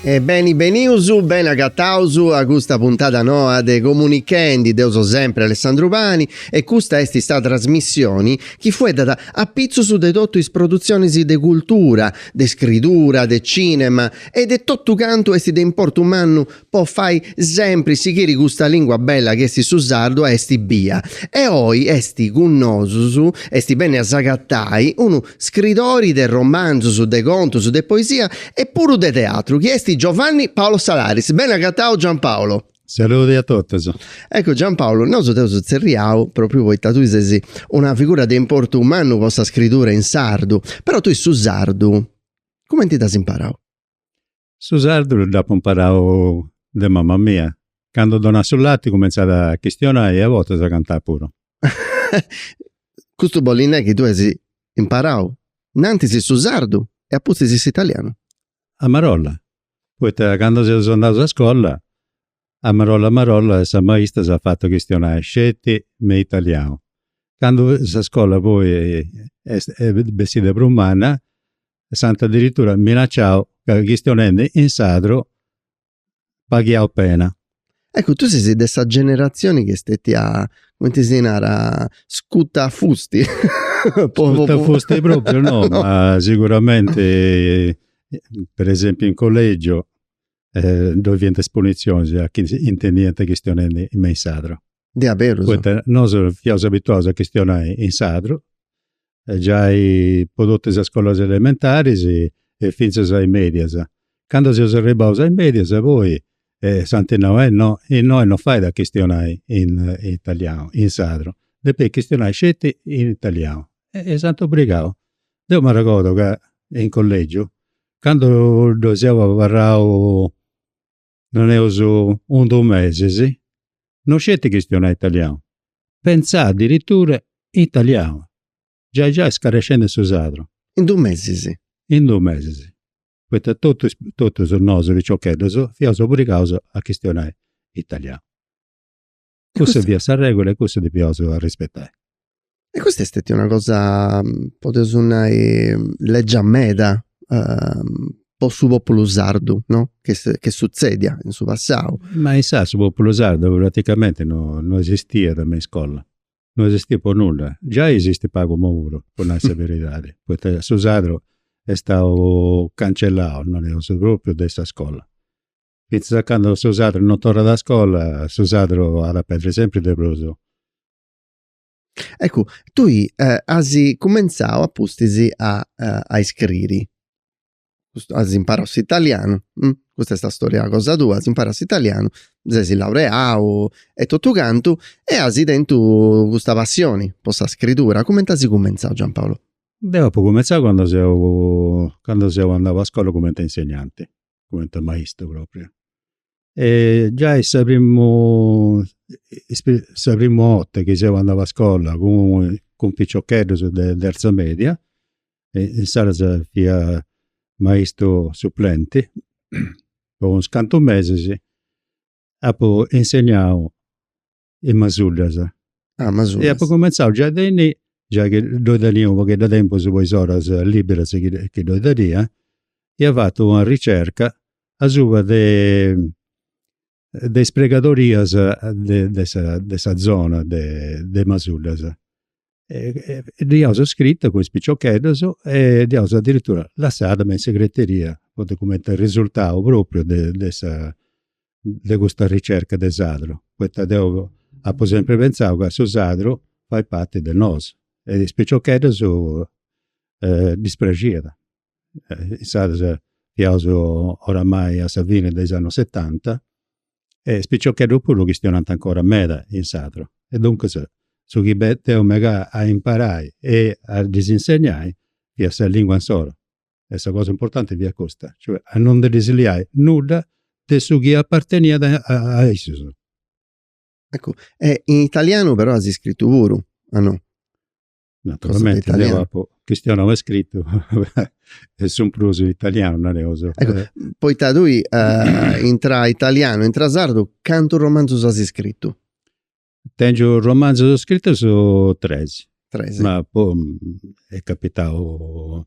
E beni benius, beni agataus a custa puntada noa de Comunichendi, deu so sempri Alessandru Pani e custa est sa trasmissioni chi fueddat apitzus de totu is produtzionis de cultura, de scridura, de cinema e de totu cantu est de importu mannu po fai sempri sighiri custa lingua bella chi est su sardu a essi bia. E oi est cun nosus, est beniu a s'agatai, unu Scridori de romanzos, de contos, de poesia e puru de teatru chi est Giovanni Paolo Salaris. Beni agatau Giampaolo. Saludi a totus. Eccu Giampaolo, nosu t'eus tzerriau propriu poita tui ses una figura de importu mannu po sa scridura in sardu, però tui su sardu cumenti dd'as imparau? Su sardu dd'apu imparau de mama mia. Candu donat su lati cumentzat a chistionai e a bortas a cantai puru. Custu bollit nai chi tui as imparau in antis su sardu e a pustis s'italianu. A marolla, poita candu seus andaus a scola, a marolla marolla sa maista s'at fatu chistionai sceti me italianu. Candu sa scola poi est bessida prus manna, e s'ant adiritura minacciau ca chistionendi in sardu paghiaus pena. Eccu, tui ses de sa generatzioni chi est stetia, cumenti si narat, scutafusti. Scutafusti propriu no, ma siguramenti, per esempiu in collegiu, ddoi fiant is punitzionis a chi intendiant chistionendi me in sardu. Diaderus. Poita nosu fiaus abituaus a chistionai in sardu, giai po totu is scolas elementaris e fintzas a is medias. Candu seus arribbaus a is medias poi s'ant nau, eh no, innoi no fait a chistionai in italianu, in sardu, depis chistionai sceti in italianu. E s'ant obrigau. Deu m'arregordu ca in collegiu, candu ddoi seu abarrau Nareus in dus mesis, no sceti chistionai italianu, pentzai adiritura italianu. Giai giai scarescendi su sardu. In dus mesis. In dus mesis. Poita totus nosu piciocheddus fiaus obrigaus a chistionai italianu. Cussa fiat sa regula e cussu depiaus arrispetai. E custa est stetia una cosa, podeus nai, legia meda po su populu sardu, no, chi sutzediat in su passau. Ma insaras su populu sardu praticamenti no esistiat me iscola, no esistiat po nudda. Giai esistit pagu imoi puru, po nai sa beridadi, poita su sardu est stau cancellau, nareus, propriu de sa iscola. Fintzas a candu su sardu non torrat a scola, su sardu at a perdiri sempri de prus. Eccu, tui asi cumentzau a pustis a a iscriri, as imparau s'italianu, custa est sa storia cosa tua, as imparau s'italianu, ses laureau e totu cantu e asi tentu custa passioni po sa scritura, cumenti asi cumentzau Giampaolo? Deu apu cumentzau candu seu candu seu andau a scola cumenti insegnanti cumenti a maistu propriu e giai sa primu sa primu 'orta chi seu andau a scolla cun cun piciocheddus de terza media e insaras fia maistu suplenti po is cantu mesis apu insegnau in Masuddas. Ah, Masuddas. E apu cumenzau giai de inni, giai chi ddoi tenia u' pogheddu de tempus po is oras liberas chi chi ddoi tenia, ia fatu una ricerca asuba de de is pregadorias de de sa zona de Masuddas. e dd'eus scrita cun is piciocheddus e dd'eus adiritura lassada me in segreteria, poita cumenti arresurtau propriu de de sa de custa ricerca de sadru, poita deu apu sempri pentzau ca su sadru fait parti de nosu e is piciocheddus ddis praxiat. Insaras fiaus oramai a sa fini de is annus setanta e is piciocheddus puru chistionànt ancora meda in sardu. E duncas su chi deu megà a imparai e a ddis insegnai fiat sa lingua insoru e sa cosa importanti fiat custa, cioè a non ndi ddis liai nudda de su chi aparteniat a issus. Eccu, e in italianu però as scritu puru, o no? Naturalmente, io apo chistionau e scritu e su prus italianu, nareus. Ecco, eh. poita tui uh, intra italianu, intra sardu, cantu romanzus as scritu? Tengiu romanzus scritus tres. Tres. Ma po, è capitau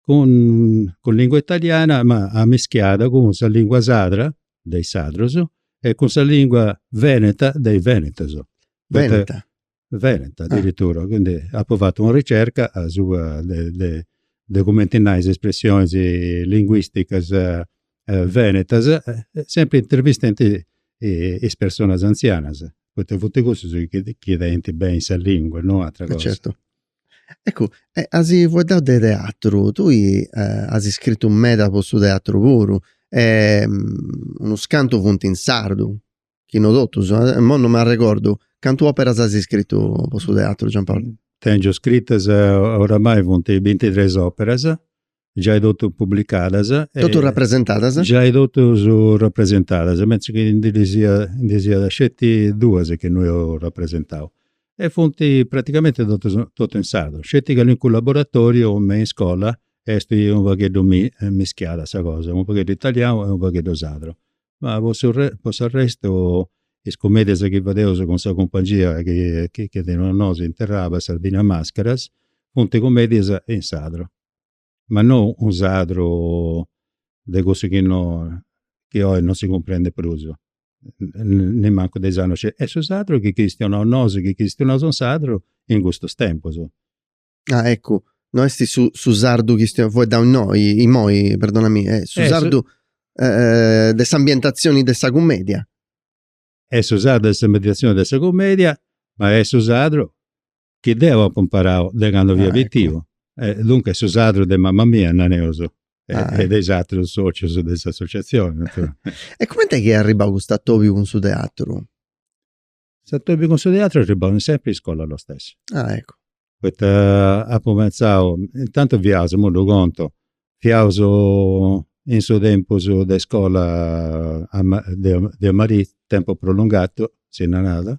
cun cun lingua italiana ma ammischiada cun sa lingua sadra de is sadrus e cun sa lingua veneta de is venetus. Veneta. Veneta adiritura, quindi apu fatu una ricerca asuba de de de cumenti nai is espressionis linguisticas venetas, sempri intervistendi is personas anzianas, poita funt cussus chi chi tenint beni sa lingua, no ateras cosas. Certu. Eccu, e asi fueddau de teatru, tui asi scritu meda po su teatru puru e unus cantu funt in sardu, chi no totus, imoi no m'arregordu, cantu operas asi scritu po su teatru Giampaolo? Tengiu scritas oramai funt bintitres operas giai totu publicadas. Totu rapresentadas? Giai totus rapresentadas, mentris chi ndi ddis iat ndi ddis iat sceti duas chi no eus rapresentau. E funt praticamenti totus, totu in sardu, sceti calincunu laboratoriu me in iscola est u' pagheddu mischiada sa cosa, u' pagheddu italianu e u' pagheddu sardu. Ma po su po s'arrestu is cumeddias chi fadeus cun sa cumpangia chi chi teneus nosu in Terraba, Sardinia Mascaras, funt cumeddias in sardu. ma no unu sardu de cussus chi no, chi oi non si cumprendit prus, nemancu de is annus sceti, est su sardu chi chistionaus nosu, chi chistionaus in sardu in custus tempus. Ah eccu, no est su su sardu chi chistionaus faeddaus innoi, imoi, perdonami, est su sardu de s'ambientatzioni de sa cummedia. est su sardu de s'ambientatzioni de sa comedia, ma est su sardu chi deu apu imparau de candu fia pitiu. Duncas est su sardu de mama mia, nareus, e de is atrus socius de s'associazioni. E cumenti est chi est arribau custu atobiu cun su teatru? S'atobiu cun su teatru est arribau sempri in iscola lo stesso. Ah eccu. Poita apu pentzau, intantu fiaus, imui ddu contu, fiaus in su tempus de iscola de a merì, tempus prolungatu, si narat,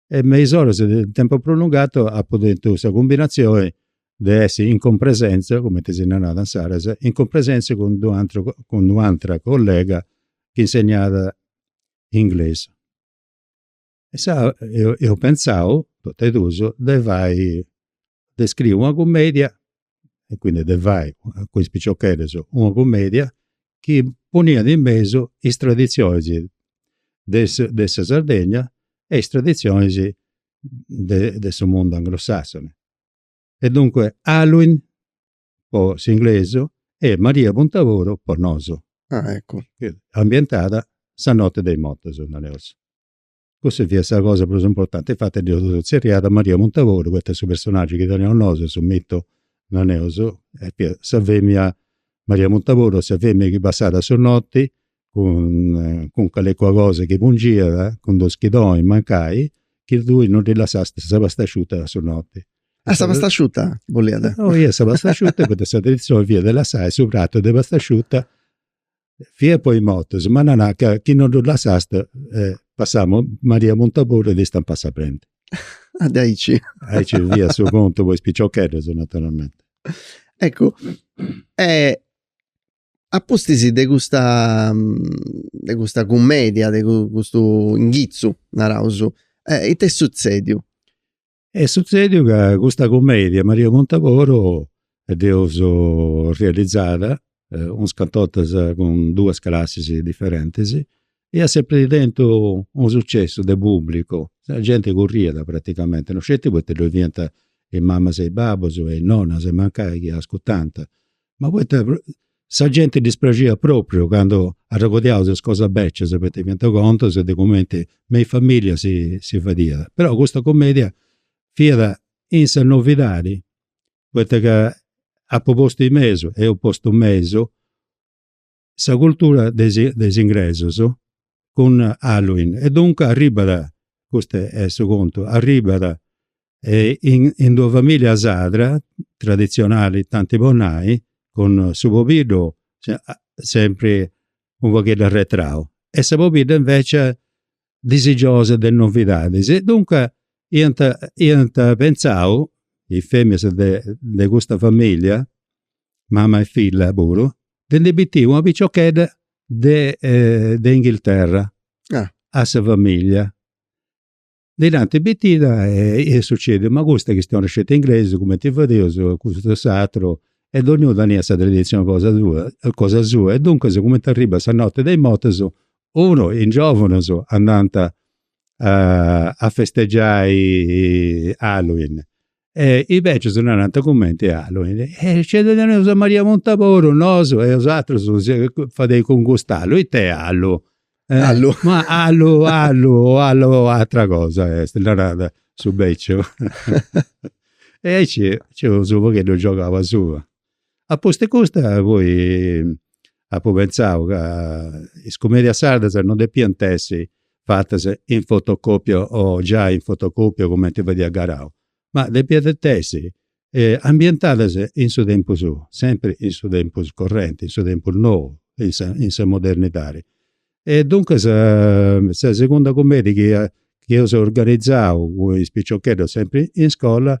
e me is oras de tempus prolungatu apu tentu sa cumbinazioni de essi in cumpresenza, cumenti si narat insaras, in cumpresenza cun d'u' ateru, cun d'u' atera collega chi insegnat inglesu. Insaras eus pentzau, totu e dus, de fai, de scriri una cumedia, e quindi de fai cun is piciocheddus una cumedia chi poniat in mesu is traditzionis de de sa Sardegna e is traditzionis de de su mundu anglosassoni. E duncue Halloween po s'inglesu e Maria Puntaboru po nosu. Ambientada sa notti de is mortus, nareus. Cussa fiat sa cosa prus importanti, infati dd'eus tzerriada Maria Puntaboru poita su personaggiu chi teneus nosu e su mitu, nareus, fiat sa femina, Maria Puntaboru est sa femina chi passat a su noti cun cun calincuna cosa chi pungiat, cun d'u' schidoni mancai, chi tui non ddi lassast sa pastasciuta a su noti. Ah sa pastasciuta boliat. Eja, sa pastasciuta poita sa traditzioni fiat de lassai su pratu de pastasciuta fiat po is motus, ma nanà ca chi no ddu lassast passàt Maria Puntaboru e ti istampàt sa brenti. Ah diaici. Aici fiat su contu po is piciocheddus, naturalmenti. Eccu, e a pustis de custa de custa cummedia, de custu inghitzu, naraus, it'est sutzèdiu? Est sutzediu ca custa cumedia, Maria Muntaboru, dd'eus realizada unas cantu 'ortas cun duas classis diferentis e iat sempri tentu unu sucessu de pubblicu, sa genti curriat praticamenti, non sceti poita ddoi fiant is mamas e is babus e is nonnas mancai chi ascurtant Ma poita sa genti ddis praxiat propriu candu arregordiaus is cosas becias, poita fiant contus de cumenti me is familias si fadiat. Però custa cumedia fiat in sa novidadi, poita ca apu postu in mesu, eus postu in mesu, sa cultura de is ingresus cun Halloween e duncas arribat, custu est su contu, arribat in d'una familia sarda traditzionali tanti po nai cun su pobiddu sempri u' pagheddu arretrau e sa pobidda invecias disigiosa de novidadis e duncas iant iant pentzau, is femias de de custa familia, mama e filla puru, de ndi bitii una piciochedda de de Inghilterra a sa familia. Ndi dd'ant bitida e est sucediu, ma custa chi chistionat sceti inglesu cumenti fadeus custu e s'atru e donniunu teniat sa traditzioni cosa sua cosa sua e duncas cumenti arribat sa notti de is mortus unu is giòvunus andant a festeggiai Halloween e is bècius narant cumenti Halloween e nc'est, teneus a Maria Muntaboru nosu e bosatrus ita fadeis cun cust'allu, it'est allu? Allu? Ma allu allu o allu o atra cosa est, narat su bèciu e aici nci eus u' pagheddu giogau asuba Apustis custa poi apu pentzau ca is cumedias sardas non depiant essi fatas in fotocopia o giai in fotocopia cumenti fadiat Garau, ma depiant essi ambientadas in su tempus suu, sempri in su tempus correnti, in su tempus nou, in sa in sa modernidadi. E duncas sa segunda cumedia chi eus organizau cun is piciocheddus sempri in iscola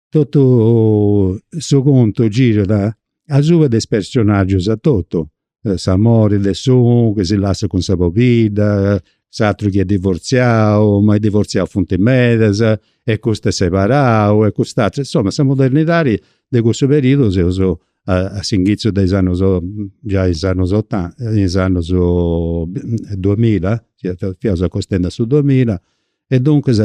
totu su contu girat asuba de is personaggius etotu, s'amori de s'unu chi si lassat cun sa pobidda, s'aturu chi est divortziau, ma is divortziaus funt medas e custu est separau e cust'aturu, insoma sa modernidadi de cussu periudu seus a s'inghizu de is annus, giai in is annus otanta, in is annus duamilla, fiaus acostendi a su duamilla e duncas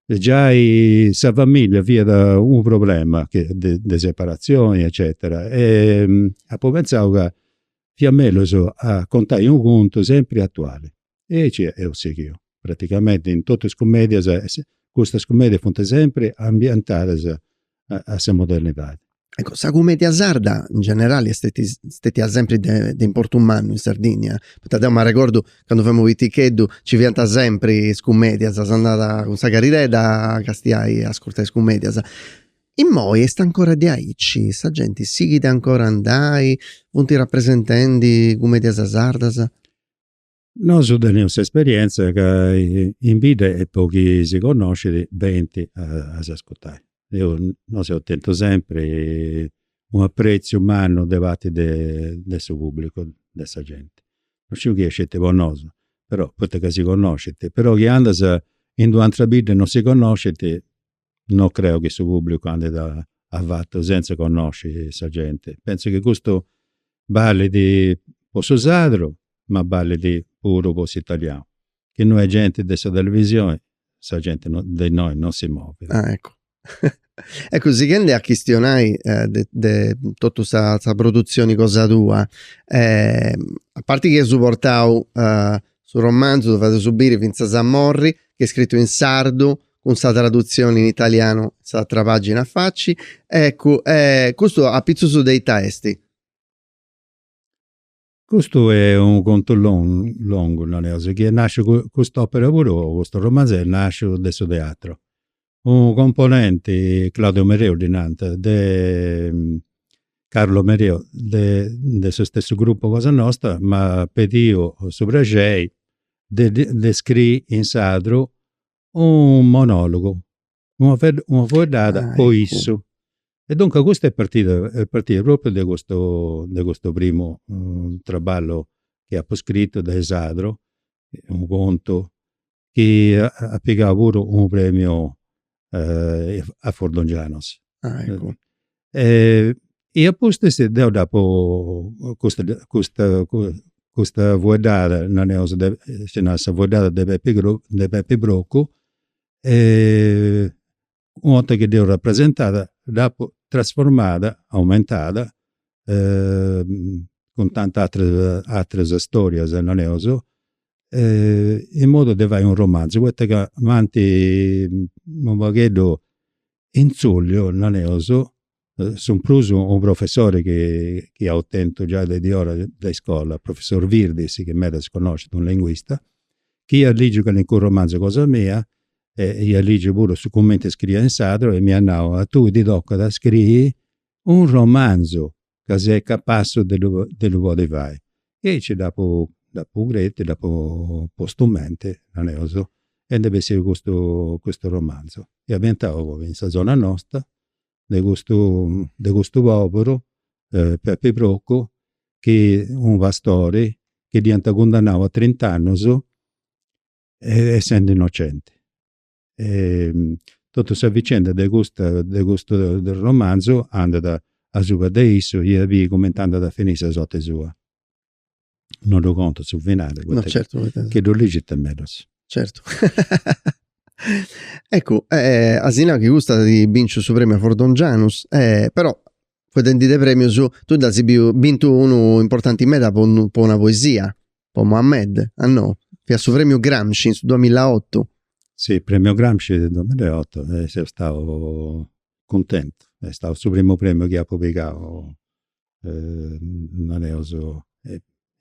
e giai sa familia fiat unu problema de de separatzioni eccetera e apu pentzau ca fiat mellus a contai unu contu sempri atuali. E aici eus sighiu, praticamenti in totu is cumedias, custas cumedias funt sempri ambientadas a sa modernidadi. Ecco, sa cumedia sarda in generali est stetia sempri de de importu mannu in Sardigna, poita deu m'arregordu candu femu piticheddu ci fiant sempri is cumedias, s'andada cun sa cadiredda a castiai a ascurtai is cumedias. Immoi est ancora diaici, sa genti sighit ancora a andai, funt rapresentendi cumedias sardas? Nosu teneus s'esperienza ca in bidda est po chi si connoscit benint a s'ascurtai. Deu nosu eus tentu sempri u' apretziu mannu de parti de su pubblicu, de sa genti. Non sciu chi est aici po nosu, però, poita ca si connoscint, però chi andas in d'u' atera bidda e non si connoscint no creu chi su pubblicu andit a fatu senz'e connosci sa genti. Pentzu chi custu ballit po su sardu ma ballit puru po s'italianu. Chi no est genti de sa televisioni sa genti oindii non si movit. Ah eccu. Eccu sighendi a chistionai de de totu sa produtzioni cosa tua, a parti chi as portau su romanzu, ddu fatzu biri Fintzas a morri, chi est scritu in sardu, cun sa tradutzioni in italianu in s'atra pagina a faci e eccu e custu a pitzus de ita esti? Custu est unu contu longu naneus chi est nasciu, cust'opera puru, custu romanzu est nasciu de su teatru. Unu componenti, Claudio Mereu ddi nant, de Carlo Mereu de de su stessu gruppu cosa nosta m'at pediu su prexeri de de scrii in sardu unu monologu, una una fueddada po issu. E duncas custa est partida est partida propriu de custu de custu primu traballu chi apu scritu de in sadru, unu contu chi at pigau puru unu premiu a Fordongianus. E a pustis deu dd'apu custa custa custa fueddada, naneus de, si narat sa fueddada de Pepi de Pepi Procu, u' 'orta chi dd'eus rapresentada dd'apu trasformada, aumentada, cun tanti ateras ateras storias, naneus, in modu de fai u' romanzu, poita ca m'ant u' pagheddu Intzulliu, nareus, su prus unu professori chi eus tentu giai de diora de iscola, professori Virdis, chi meda est connoscitu, unu linguista, chi iat ligiu calincunu romanzu cosa mia e iat ligiu puru su cumenti scriia in sardu e m'iat nau, a tui ti tocat a scriri u' romanzu ca ses capassu de de ddu podi fai. E aici dd'apu dd'apu crètiu, dd'apu postu menti, nareus, e nd'est bessiu custu custu romanzu. E ambientau poi in sa zona nosta de custu de custu poberu, Pepi Procu, chi unu pastori chi dd'iant cundannau a trint'annus essendi innocenti. Totu sa vicenda de custa de custu romanzu andat asuba de issu, i a biri cumenti andat a finì sa sorti sua. Non ddu contu su finali poita chi ddu ligit mellus. Certu. Eccu, as nau chi custu at binciu su premiu a Fordongianus, però fueddendi de premius tui dd'as biu bintu unu importanti meda po po una poesia. po Mohamed, a no, fiat su Premiu Gramsci in su duamilaotu. Si, Premiu Gramsci in su duamilaotu e seu stau cuntentu, est stau su primu premiu chi apu pigau, nareus,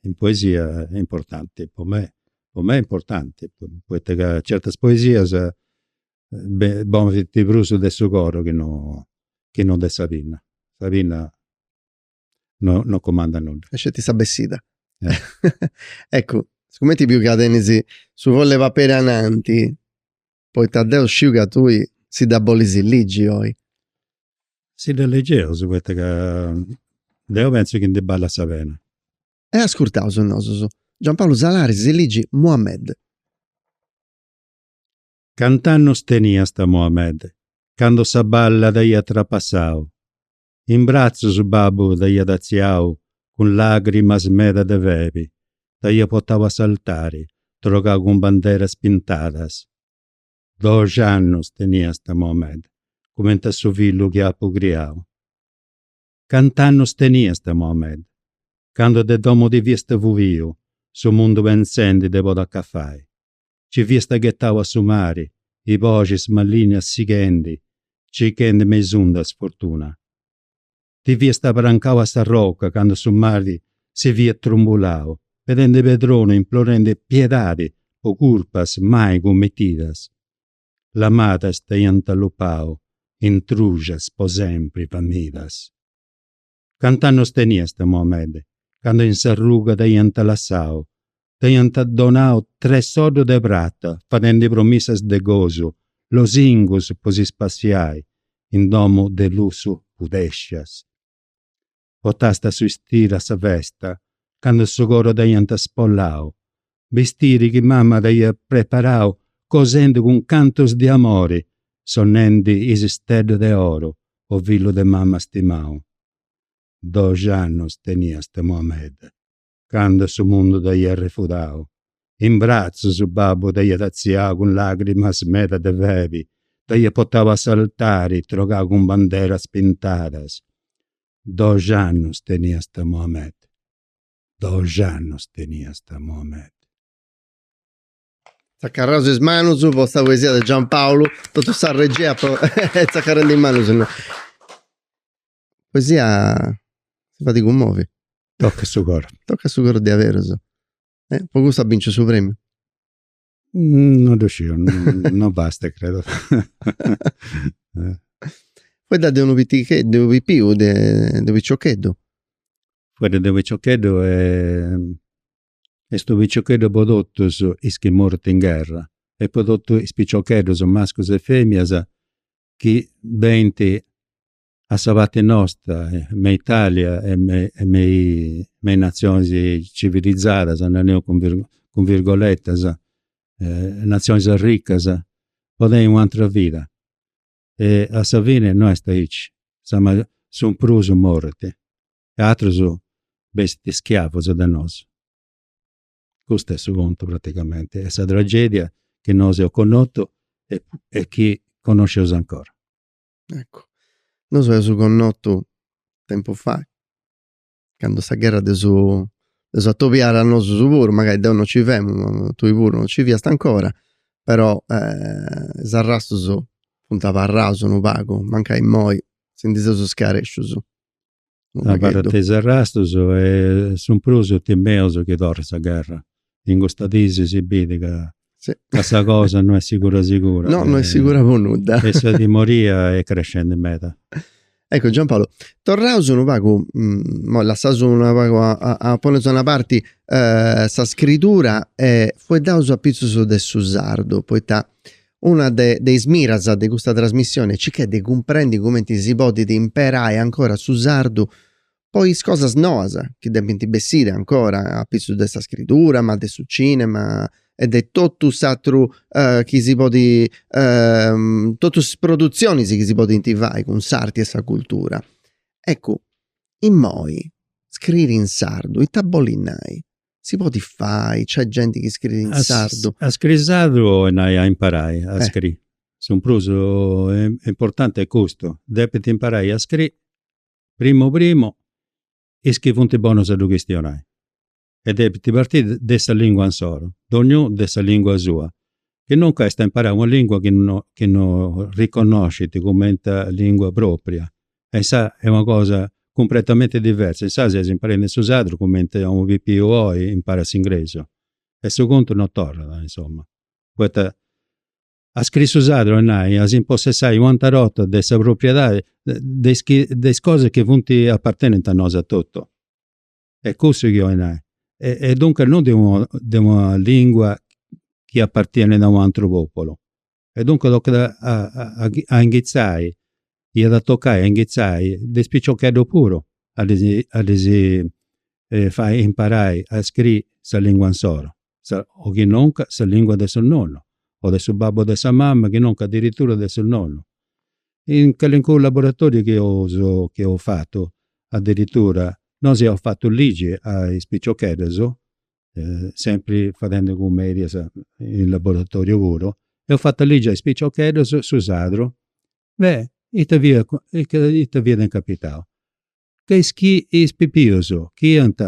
in poesia importanti, po mei, po mei importanti, poita ca certas poesias funti prus de su coru chi no de sa pinna, sa pinna no no cumandat nudda. Est sceti sa bessida. Eccu, sigumenti biu ca tenis su foll'e paperi ananti, poita deu sciu ca tui si dda bolis ligi oi. Si dda ligeus, poita ca deu pentzu chi ndi ballat sa pena. E ascurtaus nosus. Giampaulu Salaris si ligit Mohamed. Cant'annus teniasta Mohamed candu sa balla t'aiat trapassau? In bratzus babbu t'aiat atziau cun làgrimas meda de febi, t'aiat potau a s'altari trogau cun banderas pintadas. Doxi annus teniasta Mohamed, cumenti a su fillu chi apu criau. Cant'annus teniasta Mohamed, candu de domu ti fiasta fuiu, su mundu pentzendi de podi acafai? Ci fiasta ghetau a su mari, is boxis malìnnias sighendi, circhendi me is undas, fortuna. Ti fiast abrancau a sa roca candu su mari si fiat trumbulau, pedendi pedronu implorendi piedadi po curpas mai cummitidas. Lamadas t'aiant allupau intruxas po sempri famidas. Cant'annus teniast Mohamed candu in sa ruga t'aiant lassau? T'aiant donau tres soddus de prata fadendi promissas de gosu, losingus po si spassiai in domus de lussu pudèscias? Potasta su bistiri de sa festa cando su coru t'aiant spollau? bistiri chi mama t'aiat preparau cosendi cun cantus de amori, sonnendi is steddus de oru, o fillu de mama stimau. Doxi annus teniast Mohammed candu su mundu t'aiat refudau. In bratzus babbu t'aiat artziau cun lagrimas meda de febi, t'aiat portau a s'altari trogau cun banderas pintadas. Doxi annus teniast Mohammed. dox'annus teniast Mohamed. Tzacarraus is manus po sa poesia de Giampaulu, totu sa regia est tzacarrendi is manus no. Poesia si fait cummovi. Tocat su coru. Tocat su coru diaverus. Po custu at binciu su premiu. Non ddu sciu, non bastat, credo. Fueddat de unu piticheddu, unu pipiu de unu piciocheddu. Fueddat de unu piciocheddu est unu piciocheddu po totus is chi morint in gherra e po totus is piciocheddus, mascus e femias, chi benint a sa parti nostra me Italia e me e me is me is natzionis civilizadas, nareus cun virgo cun virgoletas, natzionis arricas, po tenni un'atera vida. E a sa fini no est aici, sa maggior su prus morint e aterus bessint schiavus de nosu. Custu est su contu praticamenti e sa tragedia chi nosu eus connotu e chi connosceus ancora. Eccu, nosu eus connotu tempus fai, candu sa gherra de su de su atobiat a nosus puru, mancai deu no ci femu, tui puru no ci fiasta ancora, però is arrastus funt abarraus unu pagu, mancai immoi si ndi seus scarescius. Abarrant is arrastus e su prus timeus chi torrit sa gherra. In custas diis si bit ca sa cosa no est sigura sigura. No, no est sigura po nudda. E sa timoria est crescendi meda. Eccu Giampaolo, torraus unu pagu, imoi lassaus unu pagu, poneus a una parti sa scritura e fueddaus apitzus de su sardu, poita Una de, de is miras de custa trasmissioni est cicai de cumprendi cumenti si podit imperai ancora su sardu po is cosas noas chi depint bessiri ancora a pitzus de sa scritura ma de su cinema e de totu s'atru chi si podi totu is produtzionis chi si podint fai cun s'arti e sa cultura. Eccu, immoi scriri in sardu ita bolit nai? si podit fai, nc'est genti chi scriit in sardu. A scriri sardu 'olit nai a imparai a scriri, su prus importanti est custu, depint imparai a scriri primu primu is chi funt bonus a ddu chistionai e depint partiri de sa lingua insoro, donniunu de sa lingua sua, chi nunca est a imparai una lingua chi no riconnoscint cumenti lingua propria e insaras est una cosa cumpletamente diversa, insaras ses imparendi su sardu cumenti a unu pipiu oi imparat s'ingresu e su contu non torrat, insoma. Poita a scriri su sardu est nai, a s'impossessai u' anta 'orta de sa propriedadi de is chi, de is cosas chi funt apartenenti a nosu atotu. Est cussu chi 'ollu nai. E duncas non de una lingua chi apartienit a u' ateru populu. e duncas tocat a inghitzai, iat a tocai a inghitzai de is piciocheddus puru a ddis a ddis fai imparai a scriri sa lingua insoro, o chi nunca sa lingua de su nonnu o de su babbu o de sa mama, chi nunca adiritura de su nonnu. In calincunu laboratoriu chi eus chi eus fatu, adiritura nosu eus fatu ligi a is piciocheddus sempri fadendi cumedias in laboratoriu puru, eus fatu a ligi a is piciocheddus su sadru e ita fiat ita fiat incapitau. Ca is chi is pipius chi iant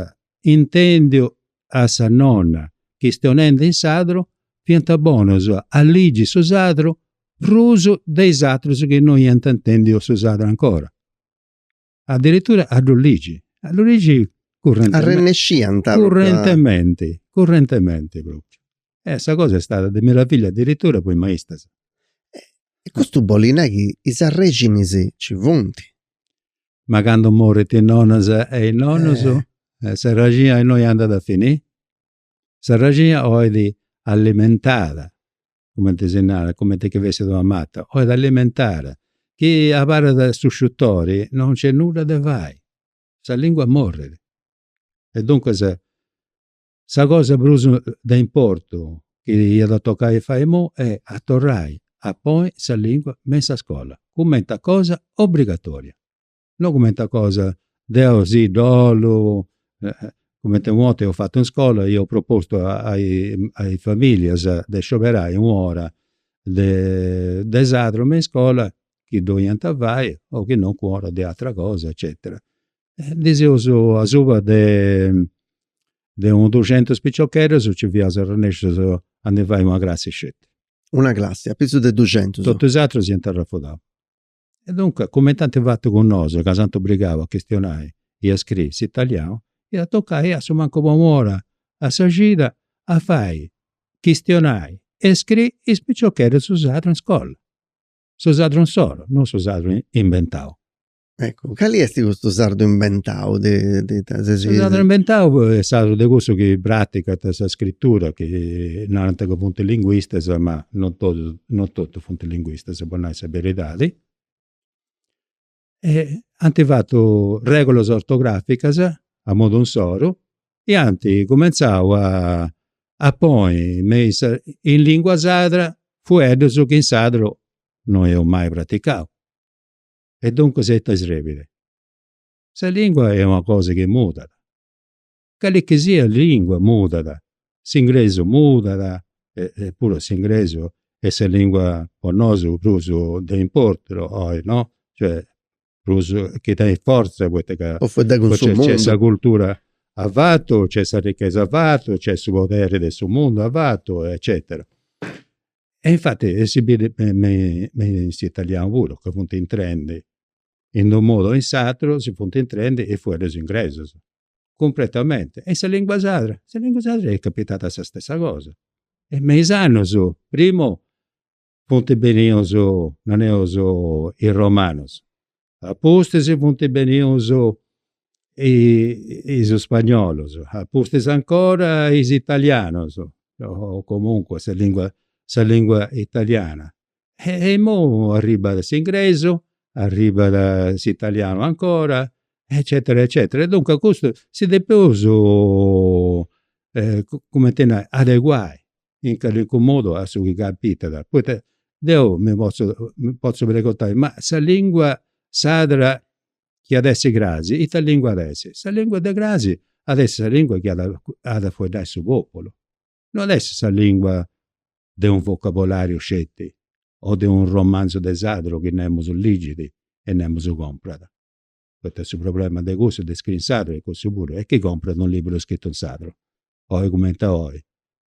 intendiu a sa nonna chistionendi in sadru fiant bonus a ligi su sadru prus de is atrus chi no iant intendiu su sadru ancora. addirittura a ddu ligi, a ddu ligi currentementi. Arrennesciant a. Currentementi, currentementi propriu. E sa cosa est stada de meravillia addirittura po is maistas. E custu bolit nai chi is arrexinis nci funt. Ma candu morint is nonnas e is nonnus, s'arrexina innui andat a finì? S'arrexina 'olit alimentada cumenti si narat, cumenti chi fessit una mata, 'olit alimentada, chi abarrat a su sciutori non nc'est nudda de fai, sa lingua morrit. E duncas sa cosa prus de importu chi iat a toccai a fai imui est a torrai a ponni sa lingua me in sa scola, cumenti a cosa obbligatoria. no cumenti a cosa, deu si ddu 'ollu, cumenti u' 'orta eus fatu in iscola, iau propostu a is familias de scioberai u' ora de sadru me in iscola chi ddu 'oliant fai o chi no u' ora de atera cosa eccetera. De asuba de u' duxentus piciocheddus nci fiaus arrennescius a ndi fai una classi sceti. Una classi, a prus de duxentus. Totus is aterus iant arrafudau. E duncas, cumenti anti fatu cun nosu, ca s'ant obrigau a chistionai e a scriri s'italianu, iat tocai a su mancu po u' ora a sa cida a fai chistionai e scriri is piciocheddus su sardu in scola. Su sardu insoro, non su sardu inventau. Eccu, cali est custu sardu inventau de ita seis. Su sardu inventau est sadru de cussus chi praticant sa scritura, chi narant ca funt linguistas, ma non totus non totus funt linguistas, po nai sa beridadi, ant fatu regulas ortograficas a modu insoru e ant cumentzau a ponni me is, in lingua sadra, fueddus chi in sadru no eus mai praticau. E duncas ita srebit? Sa lingua est una cosa chi mudat Cali chi siat lìngua mudat, s'ingresu mudat, epuru s'ingresu est sa lìngua po nosu prus de importu oi no, cioè prus chi tenit fortza poita ca nc'est sa cultura avatu, nc'est sa richesa avatu, nc'est su poderi de su mundu avatu eccetera. E infati si biri me in s'italianu puru ca funt intrendi in unu modu o in s'atru si funt intrendi is fueddus ingresus cumpretamenti e in sa lingua sadra, in sa lingua sadra est capitada sa stessa cosa e me is annus primu funt benius, nareus, is romanus, apustis funt benius is spagnolus, apustis ancora is italianus, o comunque sa lingua sa lingua italiana E imoi arribbat s'ingresu, arribbat s'italianu ancora, eccetera eccetera. Duncas custu si depeus, cumenti a nai, adeguai in calincunu modu a su chi capitat. Poita deu mi potzu potzu preguntai, ma sa lingua sadra chi at essi cras, ita lingua at essi? Sa lingua de cras at essi sa lingua chi at a fueddai su populu no at essi sa lìngua de unu vocabolàriu sceti o de unu romanzu de sadru chi nemus ligit e nemus comprat, poita su problema de cussu, de iscriri in sadru est cussu puru, e chini comprat unu libburu scritu in sadru, oi cumenti a oi.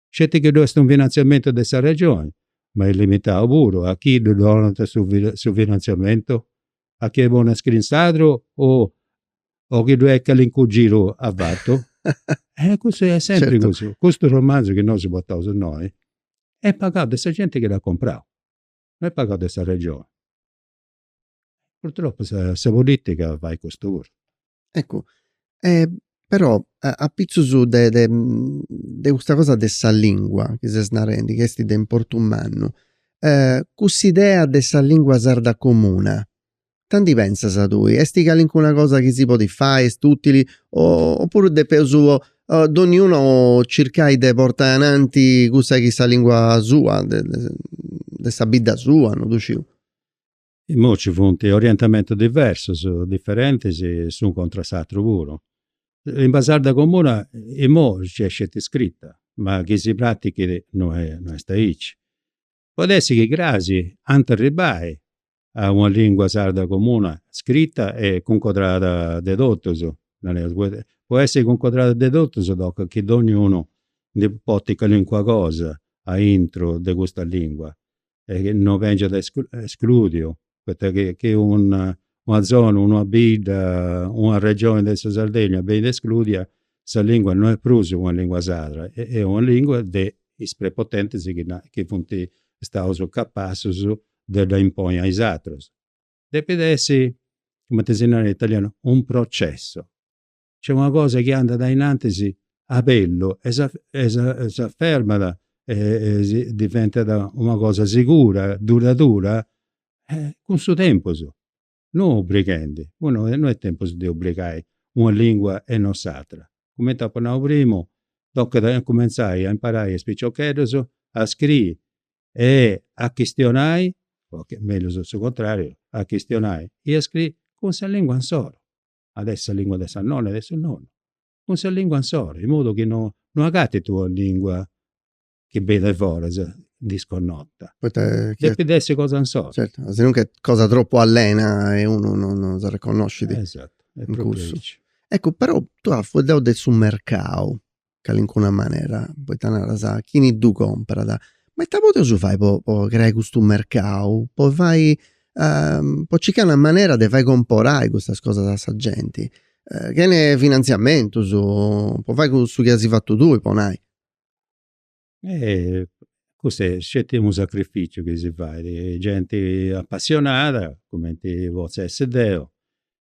Sceti chi ddu est unu finantziamentu de sa Regioni, ma est limitau puru a chi ddu donant su su finantziamentu a chini bolit scriri in sadru o o chi ddoi est calincunu giru a fatu. E custu est sempri custu. Custu romanzu chi nosu portaus innoi est pagau de sa genti chi dd'at comprau, no est pagau de sa regioni. Purtroppu sa politica fait custu puru Eccu, però apitzus de de de custa cosa de sa lingua chi ses narendi chi esti de importu mannu, cuss'idea de sa lingua sarda comuna, ita ndi pentzas tui, esti calincuna cosa chi si podit fai, est utili o oppuru depeus donniunu circai de portai ananti cussa chi sa lingua sua de sa bidda sua, non ddu sciu Imoi ci funt orientamentus diversus, diferentis s'unu contra a s'atru puru. Sa limba sarda comuna imoi nc'est sceti scrita ma chi si pratichit no est aici. Podit essi chi cras ant arribbai a una lingua sarda comuna scrita e cuncodrada de totus, nareus, po essi cuncodrada de totus tocat chi donniunu ndi porti calincuna cosa aintru de custa lingua. e no chi bengiat escludiu, poita chi chi una zona, una bidda, una regioni de sa Sardegna benit escludia, sa lingua no est prus una lingua sarda, est una lingua de is prepotentis chi na, chi funt staus capassus de dda imponi a is aterus. Depit essi, cumenti si narat in italianu, un processo, Nc'est una cosa chi andat ainantis a bellu e s'afermat e diventat una cosa segura, duradura, cun su tempus, non obrighendi, no est tempus de obrigai una lingua e non s'atera. Cumenti apu nau primu, tocat a cumentzai a imparai a is piciocheddus a scriri e a chistionai, o mellus su contrariu, a chistionai e a scriri cun sa lingua insoro. at essi sa lingua de sa nonna e de su nonnu, cun sa lingua insoro, in modu chi no no agatit una lingua chi benit de foras disconnota. Poita chi Depit essi cosa insoro. Certu, si non ch'est cosa tropu allena e unu no no s'arreconnoscit. Esatto, est propriu aici. Eccu, però, tui as fueddau de su mercau, calincuna manera, poita naras, chini ddu comporat, ma ita podeus fai po po creai custu mercau, po fai po circai una manera de fai comporai custas cosas a sa genti, chene finantziamentus, po fai cussu chi as fatu tui po nai. E custu est sceti unu sacrificiu chi si fait, genti apassionada, cumenti potzu essi deu,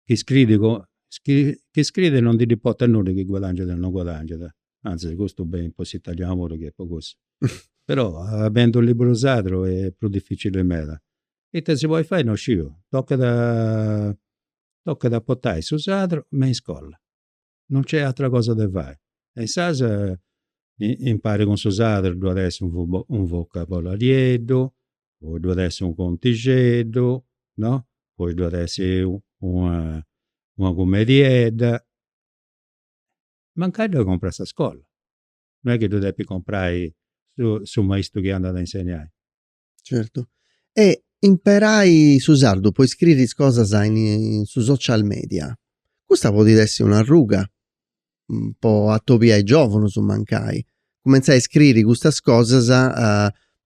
chi scriit po, chi scriit e non ndi dd'importat nudda chi guadangiat o non guadangiat, antzis custu beni po s'italianu puru chi est po cussu. Però a bendi u' liburu sardu est prus dificili meda. Ita si podit fai non sciu, tocat a tocat a portai su sardu me in iscola non nc'est atera cosa de fai. E insaras impari cun is aterus ddu at essi unu vocabolarieddu, poi ddu at essi unu contixeddu, no, poi ddu at essi una una cumediedda. Mancai ddu depit comporai sa scola, no est chi ddu depis comporai su maistu chi andat a insegnai. Certu. E imperai su sardu po iscriri is cosas in su social media, custa podit essi una arruga po atobiai giovunus mancai, cumentzai a iscriri custas cosas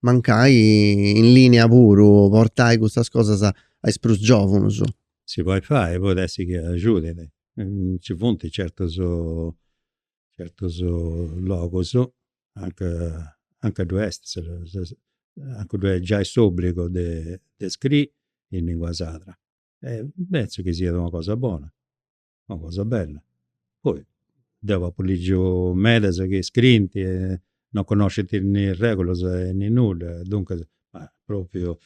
mancai in linea puru, portai custas cosas a is prus giovunus. Si podit fai, podit essi chi agiudit, nci funt certus Certus logus, anc, anca ddoi est sa, anca ddu est giai s'obbligu de scriri in lingua sarda. E pentzu chi siat una cosa bona, una cosa bella. Poi deu apu ligiu medas chi scriint e non connoscint nì regulas nì nudda, duncas, ma propriu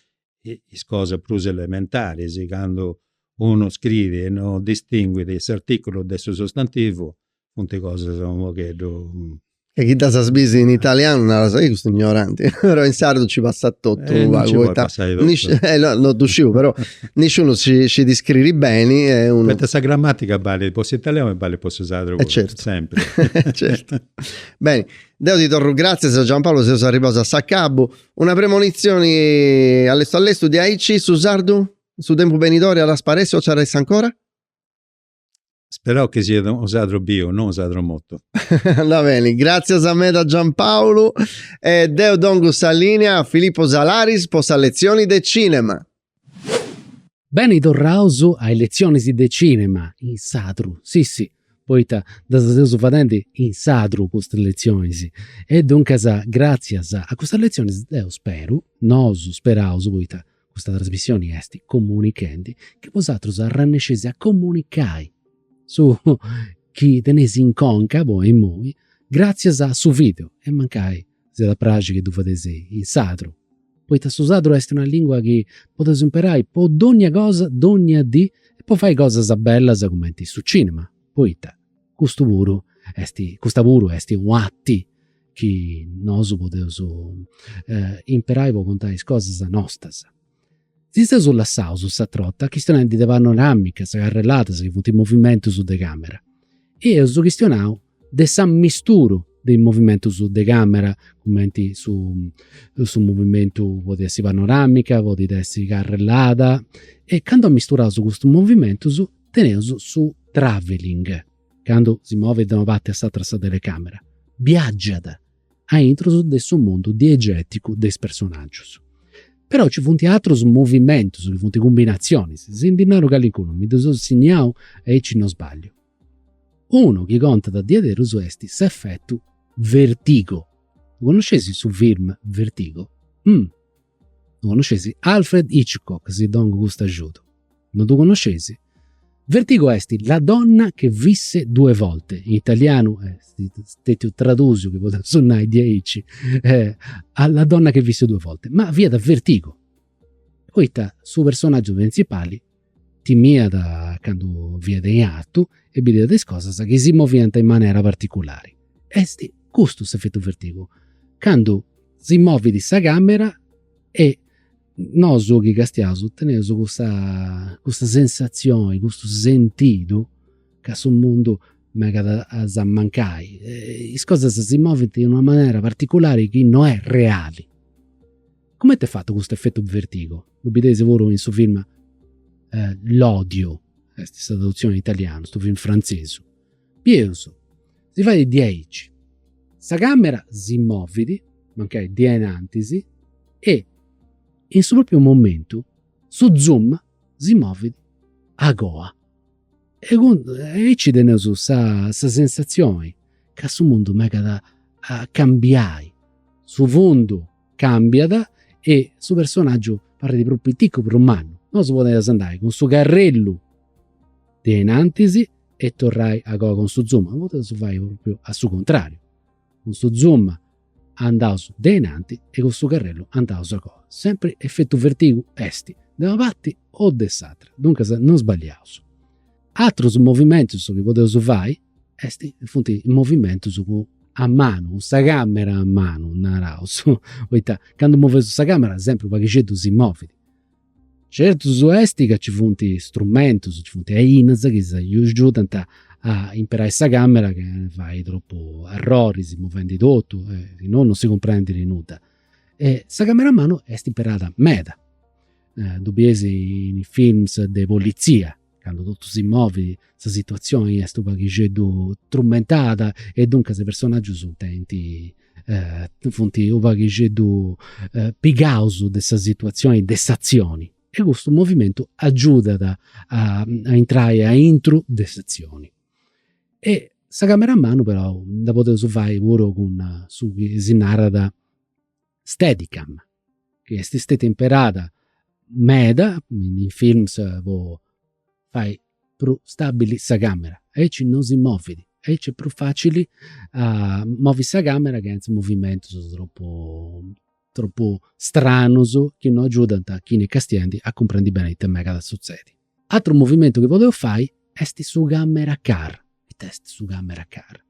is cosas prus elementaris, candu unu scriit e non distinguit s'articulu de su sostantivu, funt cosas u' pogheddu. E chi ddas bis in italianu naras, ehi custu ignoranti, però in sardu nci passat totu pagu poita. Nci podit passai totu. Eh no, no ddu sciu però nisciunu scit iscriri beni e unu. Poita sa gramatica balit po s'italianu e balit po su sardu puru. E certu. Sempri. Certu. Beni, deu ti torru gratzias Giampaolo, seus arribaus a s'acabu. Una premonitzioni allestu allestu diaici su sardu in su tempus benidori at a sparessi o nci at a essi ancora? Speraus chi siat unu sardu biu, no unu sardu mortu. Andat beni, gràtzias meda Giampaulu e deu dongu sa lìnia a Filippo Salaris po sa letzioni de cìnema. Beni torraus a is letzionis de cinema in sardu, si si, poita ddas seus fadendi in sardu custas letzionis. E duncas gratzias a custas letzionis deu speru, nosu speraus, poita custa trasmissioni est comunichendi, chi bosatrus arrennesceis a comunicai su chi teneis in conca po imoi, gratzias a su video e mancai Si at a praxi chi ddu fadeis in sardu, poita su sardu est una lìngua chi podeus imperai po dónnia cosa, dónnia dì, e po fai cosas bellas cumenti su cìnema, poita custu puru est, custa puru est un'arti chi nosu podeus imperai po contai is cosas nostras Si seus lassaus s'atra borta chistionendi de panoramicas, carrelladas chi funt movimentus de càmera. E eus chistionau de s'amisturu de is movimentus de càmera, cumenti su movimentu, podit essi panoramica, podit essi carrellada. E candu amisturaus custus movimentus teneus su travelling, candu si movit de una parti a s'atera sa telecamera, biagiat a intrus de su mundu diegèticu de is personàgius. Però nci funt atrus movimentus chi funt cumbinatzionis, si ndi naru calincunu mi ddus seu sinniau aici no sbagliu. Unu chi contat diaderus est s'effettu Vertigo. Ddu connosceis su film Vertigo? Ddu connoscesi? Alfred Hitchcock, si dongu custu ajudu. Non ddu connoscesi? Vertigo est La donna che visse due volte, in italianu est stètiu tradùsiu, chi podeus nai diaici, eh, a La donna che visse due volte, ma fiat Vertigo, poita su personàgiu printzipali Timiat candu fiat in artu e bidiat is cosas chi si moviant in manera particulari. Est custu s'efetu vertigu, candu si movit sa camera e nosu chi castiaus teneus custa custa sensatzioni, custu sentidu ca su mundu megat a s'ammancai. Is cosas si movint in una manera particulari chi no est reali Comenti est fatu custu effettu vertigo? Ddu bideis puru in su film L'odio est sa traduzioni in italianu, stu film frantzesu. Pigheus, si fait diaici, sa camera si movit, mancai de inantis, e in su propriu momentu su zoom si movit a goa. E aici teneus sa sensazioni ca su mundu megat a cambiai, su fundu Càmbiat e su personàgiu parrit prus piticu, prus mannu. Nosu podeus andai cun su carrellu de in antis e torrai a goa cun su zoom, podeus fai pròpriu a su contràriu, cun su zoom andaus de in antis e cun su carrellu andaus a goa. Sempri efetu vertigu est de una parti o de s'atra, duncas non sbagliaus. Atrus movimentus chi podeus fai Est, funt movimentus cun, a manu, cun sa camera a manu, naraus, poita candu moveus sa camera sempri u' paghixeddu si movit. Certus est ca nci funt strumentus, nci funt ainas chi si agiudant a imperai sa camera chi non fait tropu arroris movendi totu, si no non si cumprendit nudda. E sa camera a manu est imperada meda, ddu bieis in is films de politzia candu totu si movit sa situazioni est u' paghixeddu trumentada e duncas is personaggius tenint funt u' paghixeddu pigaus de sa situazioni de s'atzioni e custu movimentu agiudat a intrai aintru de s'atzioni. E sa camera a manu però dda podeus fai puru cun su chi si narat Steadicam, chi est stetia imperada meda in films po fai prus stabili sa camera, aici non si movit, aici est prus facili a movi sa camera chentza movimentus tropu tropu stranus chi non agiudant a chini est castiendi a cumprendi beni ita megat a sutzedi Atru movimentu chi podeus fai est su camera car, ita est su camera car?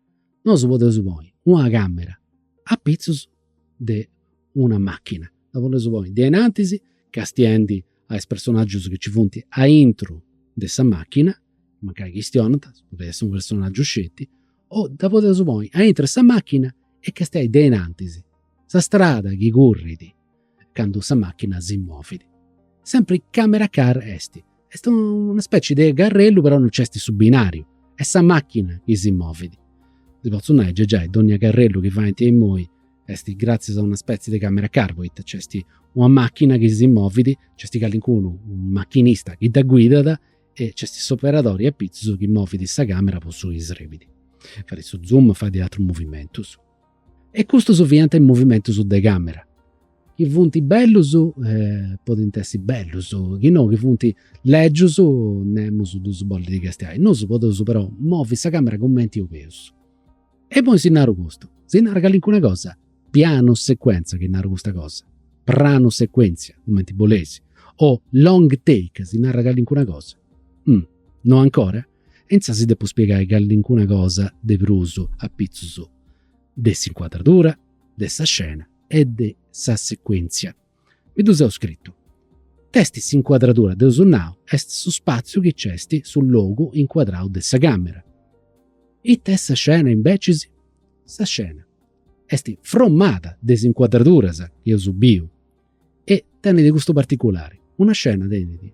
Nosu podeus ponni una camera a pitzus de una machina, dda podeus ponni de inantis castiendi a is personaggius chi nci funt aintru de sa machina, mancai chistionant, podit essi u' personaggiu sceti, o dda podeus ponni aintru de sa machina e castiai de inantis sa strada chi currit candu sa machina si movit. Sempri camera car est. Est una specie de carrellu però non c'est su binariu, est sa machina chi si movit. Si potzu nai giai donnia carrellu chi faint imoi est gratzias a una specie de camera car poita c'est una machina chi si movit, c'est calincunu, unu machinista chi dda guidat e c'est s'operadori apitzus chi movit sa camera po su chi srebit. Fait su zoom, fait de atrus movimentus. E custus fiant is movimentus de càmera, chi funt bellus, podint essi bellus, chi no chi funt lègius, nemus ddus bollit castiai. Nosu podeus però movi sa càmera cumenti 'oleus. E imoi chi naru custu, si narat calincuna cosa, pianu secuentza chi naru custa cosa, pranu secuentzia, cumenti boleis, o long take si narat calincuna cosa. No ancora? Intzà si depu spiegai calincuna cosa de prus a pitzus de s'incuadradura, de sa scena e de sa secuèntzia. Mi ddu seu scritu. Nc'est s'incuadradura, dd'eus nau, est su spàtziu chi nc'est su logu incuadrau de sa càmera. Ita est sa scena imbecis? Sa scena est fromada de is incuadraduras chi eus biu. E tenit custu particulari, una scena tenit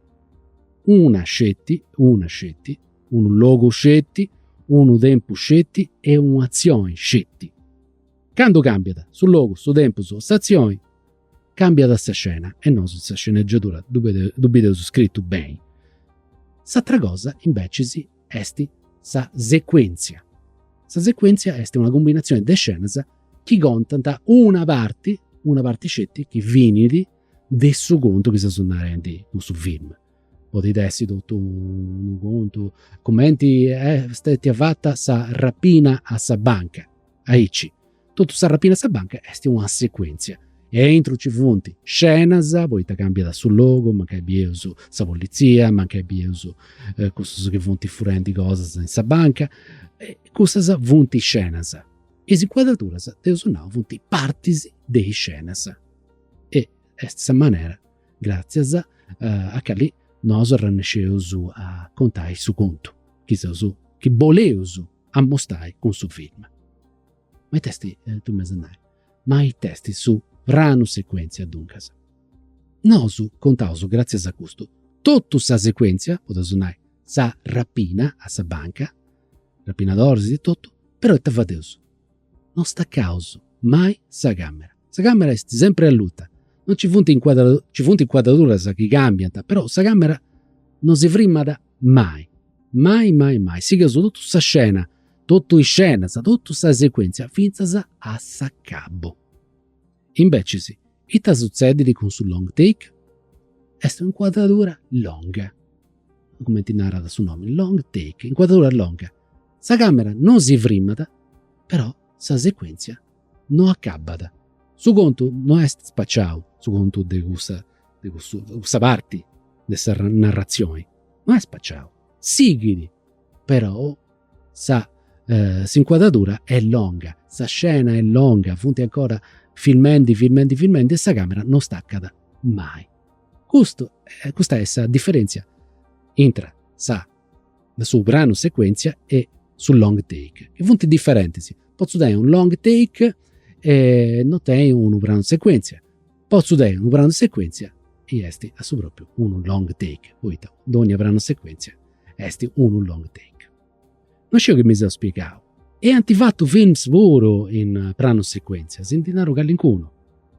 una sceti, unu logu sceti, unu tempus sceti e un'atzioni sceti. Candu càmbiat su logu, su tempus o s'atzioni, càmbiat sa scena e nosu in sa sceneggiatura ddu bideus scritu beni. S'atra cosa imbecis est sa secuèntzia. Sa secuèntzia est una cumbinatzioni de scenas chi contant una parti, una parti sceti chi finit de su contu chi seus narendi cun su film. Podit essi totu unu contu, cumenti est stetia fata sa rapina a sa banca, aici totu sa rapina a sa banca est una secuentzia e aintru nci funt scenas, poita cambiat su logu, mancai bieus sa politzia, mancai bieus cussus chi funt furendi cosas in sa banca, cussas funt scenas Is incuadraturas, dd'eus nau, funt partis de is scenas e est sa manera gràtzias a cali nosu arrennèsceus a contai su contu chi seus, chi boleus ammustai cun su film. Ma ita est, tui m'as a nai, ma ita est su pranu secuèntzia duncas? Nosu contaus gràtzias a custu totu sa secuèntzia, podeus nai sa rapina a sa banca, rapinadoris e totu, però ita fadeus, no stacaus mai sa camera, sa camera est sempri alluta, no nci funt incuadraduras chi cambiant, però sa camera no si frimat mai, mai mai mai, sigheus totu sa scena, totu is scenas, totu sa secuentzia fintzas a s'acabu. Invecis Ita sutzedit cun su long take? Est un'incuadradura longa, cumenti narat su nomi, long take, incuadradura longa. Sa càmera non si frimat, però sa secuèntzia no acabat. Su contu no est spaciau, su contu de cussu de cussa parti de sa narratzioni no est spaciau, sighit però Sa eh, s'incuadradura est longa, sa scena est longa, funt ancora filmendi, filmendi, filmendi e sa camera non staccat mai. Custu, eh, custa est sa differenzia intra sa, su pranu sequenzia e su long take, chi funt differentis. Potzu tenni un long take e non tenni unu pranu sequenzia. Potzu tenni unu pranu secuèntzia e est a su pròpriu unu long take, poita dònnia pranu secuèntzia est unu long take. No sciu chi mi seu spiegau. E ant fatu films puru in pranu secuèntzia, si ndi naru callincunu,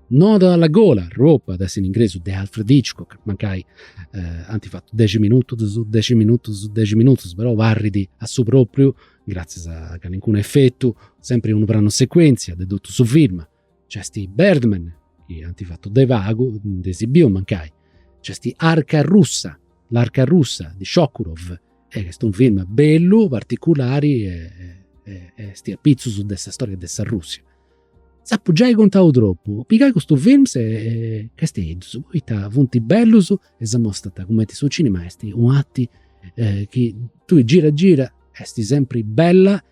Nodo alla gola, Rope, de in ingresu, de Alfred Hitchcock, mancai ant fatu dexi minutus, dexi minutus, dexi minutus, però parrit a su pròpriu, gratzias a callincunu efetu, sempri unu pranu secuèntzia de totu su film. Nc'est Birdman, chi ant fatu de pagu, ndi si biu mancai. Nc'est Arca Russa, L'arca russa di Sokurov, e est unu film bellu, particulari e e est apitzus de sa storia de sa Russia. S'apu giai contau tropu, pigai custus films e castiai-ddus, poita funt bellus e s'amostant cumenti su cinema est una arti chi tui gira gira est sempri bella